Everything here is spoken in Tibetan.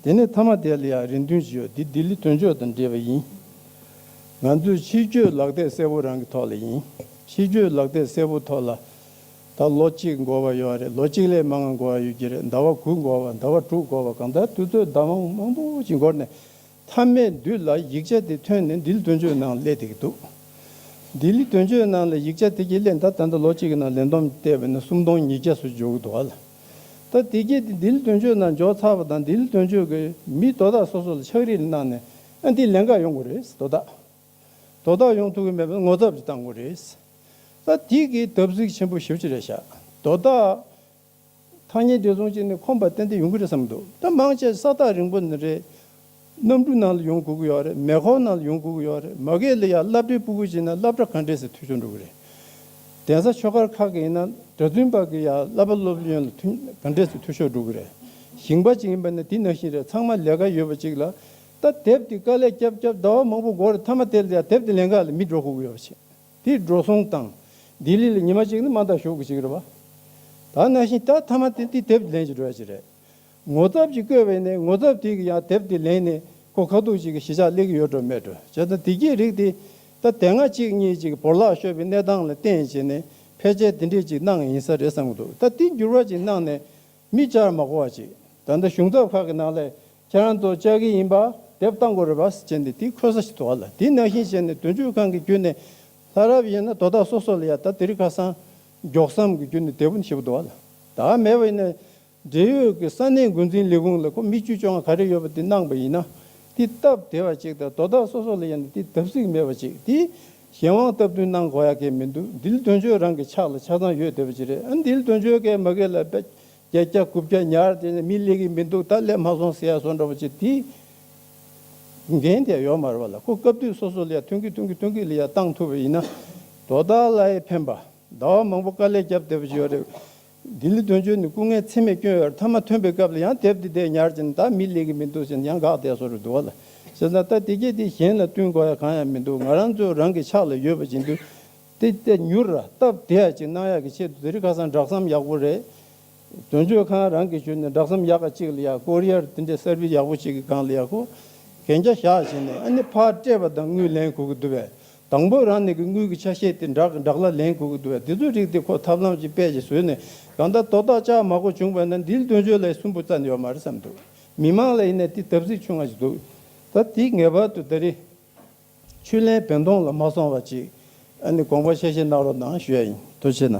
དེ་ནས་དྷརྨ་དྷེ་ལི་ཡང་རེ་འདུན་ཞུས་ཡོད་འདི་ལྡི་ལི་དོན་གཅོད་དང་འབྲེལ་བ་ཡིན། ང་ཚོས་ཕྱི་བསྐྱོད་ལག་དེབ་གསལ་བོ་རང་གི་ཐོག་ལ་ཡིན། ཕྱི་བསྐྱོད་ལག་དེབ་གསལ་བོ་ཐོག་ལ་ད་ལོ་གཅིག་འགོར་བ་ཡོད་རེད་ལོ་གཅིག་ལས་མ་འང་འགོར་བ་ཡོད་ཀྱི་རེད་ཟླ་བ་དགུ་འགོར་བ་ཟླ་བ་དྲུག་འགོར་བ་གང་ལྟར་དུས་ཚོད་ཟླ་བ་མང་པོ་ཞིག་འགོར་ནས་དྷརྨའི་མདུད་ལ་ཡིག་ཆ་དེ་ཐོན་ནས་ལྡི་ལི་དོན་གཅོད་ནང་སླེབས་འདེགས་འདུག་ལྡི་ལི་དོན་གཅོད་ནང་ལ་ཡིག་ཆ་དེ་གྱི་སླད་ད་ལྟ་ལོ་གཅིག་གི་ནང་ལེན་བསྡོམས་བལྟས་པ་ནི་སུམ་སྟོང་ཉིས་བརྒྱ་སུ་འཇོག་གི་འདུག་ཨ་ལ། ད་དེ་སྐད་དེ་དིལ་དོན་གཅོད་ནང་འཇོག་ཚར་བ་དང་དིལ་དོན་གཅོད་ཀྱི་མི་དོ་བདག་སོ་སོ་ལ་ཕྱག་རིས་གནང་ནས་ཨ་འདི་ལན་འགའ་ཡོང་དགོས་རེད་དོ་བདག་དོ་བདག་ཡོང་ཐུབ་ཀྱི་མེད་པ་ངོ་ཚབ་ཅིག་བཏང་དགོས་རེད་ད་དེ་སྐད་བརྡབ་གསིག་ཆེན་པོ་ཞིབ་ཅིག་རེ་བཞག་དོ་བདག། ཐག་ཉེ་འདི་ཚོང་ཅིག་ནི་ཁོམ་པ་ཏན་ཏན་ཡོང་གི་རེད་བསམ་གི་འདུག་ད་མང་ཆེ་ས་ཐག་རིང་པོ་ནི་རེད། གནམ་གྲུ་ནང་ལ་ཡོང་དགོས་ཀྱི་ཡོད་རེད་མེ་ཁོག་ནང་ལ་ཡོང་དགོས་ཀྱི་ཡོད་རེད་མ་གལ་ལ་ཡང་རླབས་ཕྲའི་སྤུ་གུ་བྱིན་ན་རླབས་ཕྲ་ག་འདྲའི་ཟིན་ཐོ་ཆོད་འགྲོ་གི་རེད། གདན་ས་ཆོས་སྒར་ཁག་གི་ཡིན་ན་གྲྭ་བཙུན་པ་གི་ཡང་བསླབ་པ་སློབ་ཡོན་ལ་ཐུན་ག་འདྲའི་ཟིན་ཐོ་ཆོད་འགྲོ་གི་རེད། ཞིང་པ་ཅིག་ཡིན་པ་ནི་དེ་ནང་བཞིན་རེད་ཚང་མ་ལས་ཀ་ཡོད་པ་ཅིག་ལ་ད་དེབ་དེ་དཀའ་ལས་བསྐྱབས་བསྐྱབས་ཟླ་བ་མང་པོ་འགོར་རེད་ཐ་མ་དེ་ལ་ཡང་དེབ་དེ་ལེན་ཁག་ལ་མི་འགྲོ་དགོས་ཀྱི་ཡོད་པ་བྱེད་དེ་འགྲོ་སོང་དང། ལྡི་ལི་ལ་ཉི་མ་གཅིག་ནི་མ་འདང་ཞོག་གི་ཅིག་རེད་བ། ད་ནང་བཞིན་ད་ཐ་མ་དེ་དེ་དེབ་དེ་ལེན་གྱི་འགྲོ་ཡ་ཅིག་རེད། ངོ་ཚབ་ཅིག་བཀོད་པས་ནི་ངོ་ཚབ་དེ་གི་ཡང་དེབ་དེ་ལེན་ནས་གོ་ཁ་ཐུག་ཅིག་གི་གཞི་ཆགས་ལེགས་ཡོད་འགྲོ་མེད་འགྲོ་བྱས་ན་དེ་གྱི་རིགས་དེ་ད་དེ་སྔ་གཅིག་གཉིས་ཅིག་བོར་བརླག་ཤོར་བའི་གནས་སྟངས་ལ་བརྟེན་བྱས་ནས་ཕལ་ཆེར་དེ་འདྲས་ཅིག་གནང་ཡིན་ས་རེད་བསམ་གི་འདུག་ད་དེ་འགྱུར་བ་ཅིག་གནང་ནས་མི་བཅར་མ་གོ་བ་ཅིག་ད་ལྟ་གཞུང་ཚབ་ཁག་གི་ནང་ལས་ཁྱེད་རང་ཚོ་བཅར་གི་ཡིན་པ་དེབ་བཏང་དགོས་རེད་བ་བྱས་ནས་དེ་འཁོད་ས་ཞིག་དོར་བ་ལ་དེ་ནང་བཞིན་བྱས་ནས་དོན་གཅོད་ཁང་གི་བརྒྱུད་ནས་ལྷ་རབ་ཡིན་ན་དོ་བདག་སོ་སོ་ལ་ཡང་ད་དེ་རིགས་ཁ་སང་མགྱོགས་སམ་གི་བརྒྱུད་ནས་དེབ་བཞི་པོ་དོར་བ་ལ་ད་མེད་པ་ཡིན་ན་འབྲེལ་ཡོད་ཀྱི་ས་གནས་འགོ་འཛིན་ལས་ཁུངས་ལ་ཁོ་མི་བཅུ་བཅོ་ལྔ་ག་རེ་ཡོད་པ་དེ་གནང་པ་ཡིན་ན། དེ་སྟབས་བདེ་བ་ཅིག་དང་དོ་བདག་སོ་སོ་ལ་ཡང་དེ་བརྡབ་གསིག་མེད་པ་ཅིག་དེ། གཞན་དབང་སྟབས་བསྟུན་གནང་དགོས་ཡ་གལ་མི་འདུག་འདིལ་དོན་གཅོད་རང་གི་ཕྱག་ལ་ཆ་ཚང་ཡོད་བསྡད་པ་ཅིག་རེད་ཨ་འདིལ་དོན་གཅོད་གལ་མ་གལ་ལ་བརྒྱ་བརྒྱ་དགུ་བརྒྱ་ཉར་བསྡད་ནས་མི་སླེ་གི་མི་འདུག་ད་སླེ་མ་སོང་ཟེར་ཡ་སོང་འདྲ་བ་ཅིག་དེ། འགན་དེ་ཡང་ཡོག་མ་རེད་བ་ལ་ཁོ་སྐབས་དུས་སོ་སོ་ལ་ཡང་ཐོན་གི་ཐོན་གི་ཐོན་གི་ལ་ཡང་གཏང་ཐུབ་པ་ཡིན་ན། དོ་བདག་ལ་ཡང་ཕན་པ། ཟླ་བ་མང་པོ་དཀའ་ལས་བརྒྱབ་བསྡད་པ་ཅིག་ཡོག་རེད། ལྡི་ལི་དོན་གཅོད་ནི་སྐུ་ངལ་ཚེགས་མེད་སྐྱོན་ཡོད་ཐ་མ་ཐོན་པའི་སྐབས་ལ་ཡང་དེབ་འདི་བལྟས་ཉར་གྱིན་ད་མི་ལེགས་གི་མི་འདུག་ཟེར་ནས་ཡང་འགག་བསྡད་སོ་རེད་འདུག་བ་ལ་ཟེར་ན་ད་དེ་གྱིས་དེ་གཞན་ལ་བསྟུན་དགོས་ཡ་གང་ཡང་མི་འདུག་ང་རང་ཚོའི་རང་གི་ཕྱག་ལ་ཡོད་པ་བྱིན་དུས་དེ་བལྟས་མྱུར་ར་སྟབས་བདེ་ཡ་གཅིག་གནང་ཡག་གི་ཆེད་དུ་དེ་རིགས་ཁ་སང་བསྒྲགས་སམ་ཡག་པོ་རེད་དོན་གཅོད་ཁང་རང་གི་ཞུས་ནས་བསྒྲགས་སམ་ཡག་ག་གཅིག་ལ་ཡག་ཀོ་རི་ཡར་དེ་འདྲའི་སར་བིས་ཡག་པོ་ཞིག་གི་སྒང་ལ་ཡག་ཁོ་གན་རྒྱ་བཞག་བྱིན་ནས་ཨ་ནི་ཕར་སྤྲད་པ་དང་དངུལ་ལེན་གོ་གི་འདུག་བས་དང་པོའི་རང་གནས་ཀྱི་དངུལ་གྱི་ཆ་ཤས་དེ་འབྲག་གི་འབྲག་ལ་ལེན་དགོས་ཀྱི་འདུག་བ་དེ་ཚོའི་རིགས་དེ་ཁོ་ཐབས་ལམ་གྱིས་དཔལ་གྱིས་བཟོས་ནས་གང་ལྟར་དོ་བདག་ཅག་མ་གོ་བྱུང་བས་ན་འདིའི་དོན་བརྗོད་ལ་ཡི་སུན་པོ་ཙམ་ཡོད་མ་རེད་བསམ་འདུག་མི་མང་ལ་ཡིན་ན་དེ་དབ་ཚིག་ཆུང་ང་ཞིག་འདུག་ད་དེ་ངེས་པར་དུ་ད་རིང་ཆུ་ལེན་བེན་ཐོང་ལ་མ་སོང་བ་ཅིག་ཨ་ནི་དགོངས་པ་ཤས་ཤས་གནང་རོགས་གནང་ཞུ་ཡ་ཡིན་དོ་ཆེ་ན།